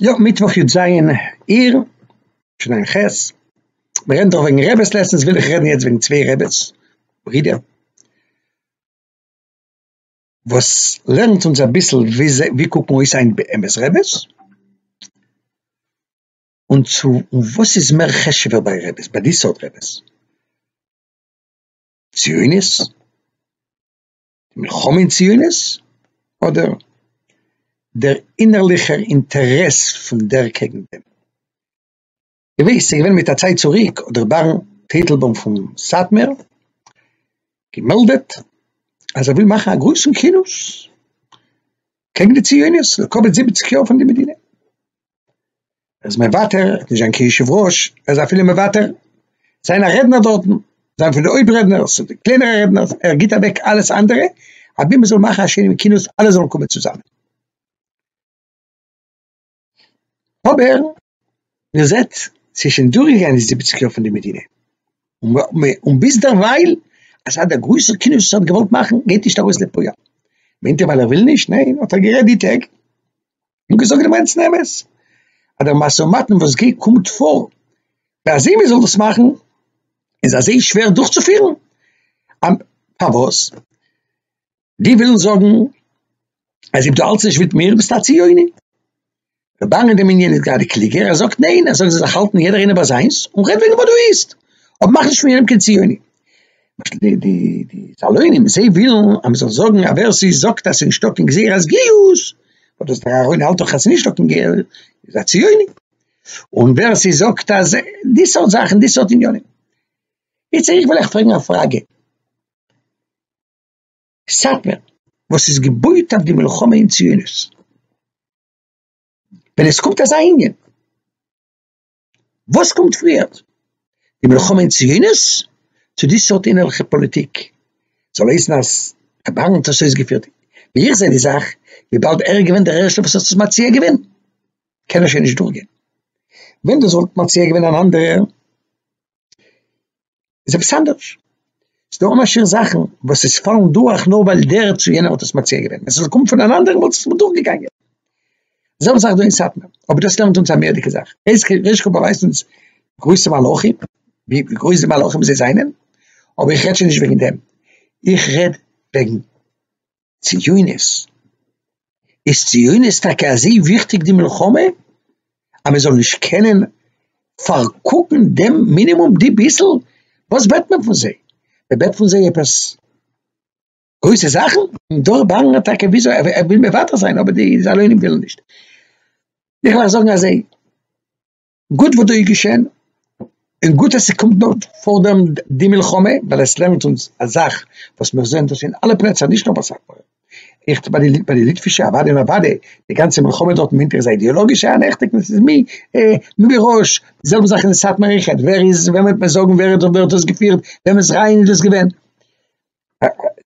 יא, מיטוואך יו ט אייר, תשע"ח, מען רעדט דאך וועגן רעבעס לעסענס, וויל איך רעדן יעצט וועגן צוויי רעבעס, ברידער, וואס לערנט אונז אביסל ווי זיי ווי קוקן אויס היינט באמת רעבעס, און צו און וואס איז מער חשוב'ער ביי רעבעס ביי די סארט רעבעס, ציונות? די מלחמה אין ציונות אדער דער אינערליכער אינטערעס פון דער קעגן דעם. געוויס ס'איז געווען מיט א צייט צוריק האט דער בארן טייטלבוים פון סאטמער געמעלדעט אז ער וויל מאכן א גרויסן כינוס קעגן די ציונות לקבל זיבעציק יאר פון די מדינה. ער איז מוותר, ער האט נישט זיין כיושב ראש, ער איז אפילו מוותר זיין א רעדנער דארטן, זיין פון די הויפט רעדנער, ס'איז די קלענערע רעדנערס, ער גיבט אוועק אלעס אנדערע, אבי מען זאל מאכן א שיינעם כינוס אלע זאלן קומען צוזאמען. אבער מען זעט ס'איז שוין דורכגעגאנגען די זיבעציק יאר פון די מדינה, און ביזדערווייל אזא דער גרויסער כינוס וואס ער האט געוואלט מאכן גייט נישט ארויס לפועל. מיינט ער ווייל ער וויל נישט? ניין, האט ער גערעדט די טעג. און געזאגט די מיינסטן אמת אז דער משא ומתן וואס גייט קומט פאר ביי אזוי מען זאל דאס מאכן איז אזוי שווער דורכצופירן פארוואס די ווילן זאגן אז אויב דו האלטסט נישט מיט מיר ביסטו א ציוני דער באן אין דעם ענין איז גראדע קלוגער ער זאגט ניין ער זאגט זיי זאלן זיך האלטן יעדער איינער ביי זיינס און רעד וועגן וואס דו ווילסט אבער מאך נישט פון יענעם קיין ציוני למשל די די די סאלונים זיי ווילן אז מ'זאל זאגן אז ווער ס'איז זאגט אז ס'איז נישטא קיין גזירת גיוס, אבער דאס דער אהרן האלט דאך אז ס'איז נישטא קיין גר איז א ציוני, און ווער ס'איז זאגט אז די סארט זאכן די סארט עניינים. איצט איך וויל אייך פרעגן א פראגע. סאטמער וואס איז געבויט אויף די מלחמה אין ציונות, ווען עס קומט אזא ענין, וואס קומט פריער? די מלחמה אין ציונות? צו די סארט אינערליכע פאליטיק? זאל הייסן אז א בארן האט עס אויסגעפירט, ווי איך זע די זאך, וויבאלד ער איז געווען דער ערשטער וואס האט עס מציע געווען, קען ער שוין נישט דורכגיין. ווען דאס וואלט מציע געווען אן אנדערער. איז עפעס אנדערש, ס'דא א משהו זאכן וואס עס פאלן דורך נאר ווייל דער צו יענער האט עס מציע געווען, ווען ס'זאל קומען פון אן אנדערן וואלט עס נישט דורך געגאנגען, די זעלבע זאך דא אין סאטמאר, אבער דאס לערנט אונז א מערדיגע זאך, ר' קאפ באווייזט אונז גרויסע מלאכים, ווי גרויס די מלאכים זיי זענען, אבער איך רעד שוין נישט וועגן דעם, איך רעד וועגן ציונות? איז ציונות טאקע אזוי וויכטיג די מלחמה אז מען זאל נישט קענען פארקוקן דעם מינימום די ביסל? וואס בעט מען פון זיי? מען בעט פון זיי עפעס גרויסע זאכן? דארט באנגן מיר טאקע וויאזוי ער וויל מוותר זיין אבער די זאלוינים ווילן נישט. איך וועל זאגן אזוי. גוט וואס דא איז געשען, און גוט אז ס'קומט נאר פאר דעם די מלחמה, ווייל עס לערנט אונז א זאך וואס מיר זעען דאס אין אלע פלעצער נישט נאר ביי סאטמאר, איך ביי די ביי די ליטווישע אוואדי און אוואדי, די גאנצע מלחמה דארט אינמיטן איז א אידעאלאגישע אנעכטונג וואס איז מי אה מי בראש, די זעלבע זאך אין סאטמאר אין חת ד, ווער איז וועם וועט מען זאגן ווער האט דאס געפירט, וועמענס רעיון איז דאס געווען.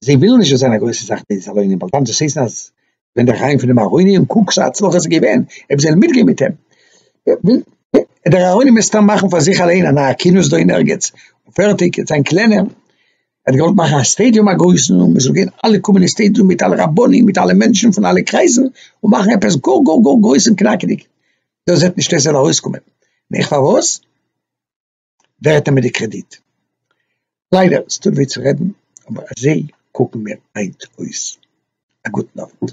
זיי ווילן נישט זיין א גרויסע זאך די סלונים ווייל דאן זעהט מען אז ווען דער חיים פון דעם ארוני און קוק זיי הצלחה ס'איז געווען אויב זיי זענען מיטגעהן מיט אים דער ארוני מוז סתם מאכן פאר זיך אליין א נייע כינוס דא אין ערגעץ און פערטיג און זיין קלענער ער האט געוואלט מאכן א סטעדיום א גרויסן און מ'זאל גיין אלע קומען אין סטעדיום מיט אלע רבנים מיט אלע מענטשן פון אלע קרייזן און מאכן עפעס גאר גאר גאר גרויס און קנאקעדיג דאס וועט נישט אויס ארויסקומען נעכט פארוואס? ווער האט אמער די קרעדיט? ליידער ס'טוט וויי צו רעדן אבער אזוי קוקן מיר היינט אויס. א גוטן אווענט.